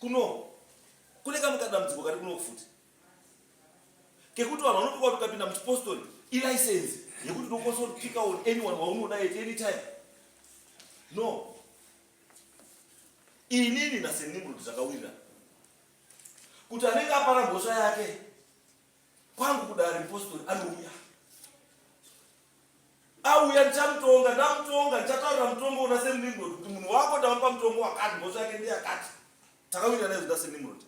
kuno kune kamwe kadambudziko kari kuno kufuti kekuti vanhu vanotoka kuti ukapinda muchipostori ilicense yekuti unokwanisa kupika on anyone waunoda at any time no inini nasenimrod zvakawirira kuti anenge apara mhosva yake kwangu kudare mupostori anouya auya ndichamutonga ndamutonga ndichataurira mutongo una senimrod kuti munhu wako ndamupa mutongo wakati mhosva yake ndeyakati takawira naye zvoda senimrod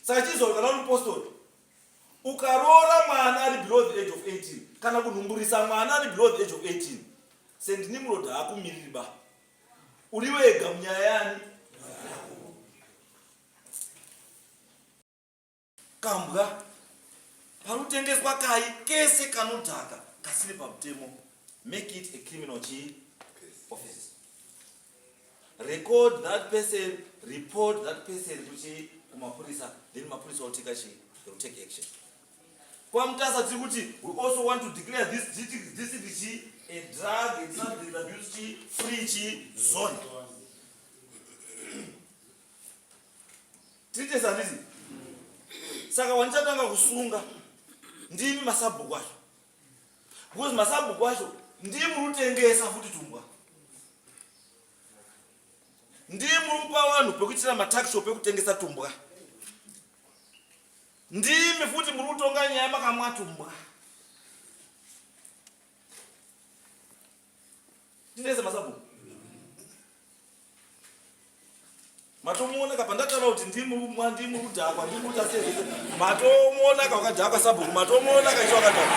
saka chizoro kana uri mupostori ukaroora mwana ari below the age of 18 kana kunhumburisa mwana ari below the age of 18 sendinimrod haakumiriri ba uri wega munyaya yani kambwa panotengeswa kai kese kanodhaka kasiri pamutemo make it a criminal chii offense record that person report that person kuchii kumapurisa then mapurisa oteka chii they will take action kwamutasa tiri kuti we also want to declare this district chii a drug and substance abuse chii free chii zone Titesa handiti? Saka wandichatanga kusunga ndimi masabhuku acho. Because masabhuku acho ndiye murutengesa futi tumbwa. Ndiye murupa vanhu pekuitira matakisho pekutengesa tumbwa. Ndimi futi muri kutonga nyaya makamwa tumbwa. Ndinese masabhuku. Matomuona kapa ndataura kuti ndimi mwa ndimi kudhakwa ndimi kuita sei. Matomuona ka wakadhakwa sabhuku matomuona ka icho wakadhakwa.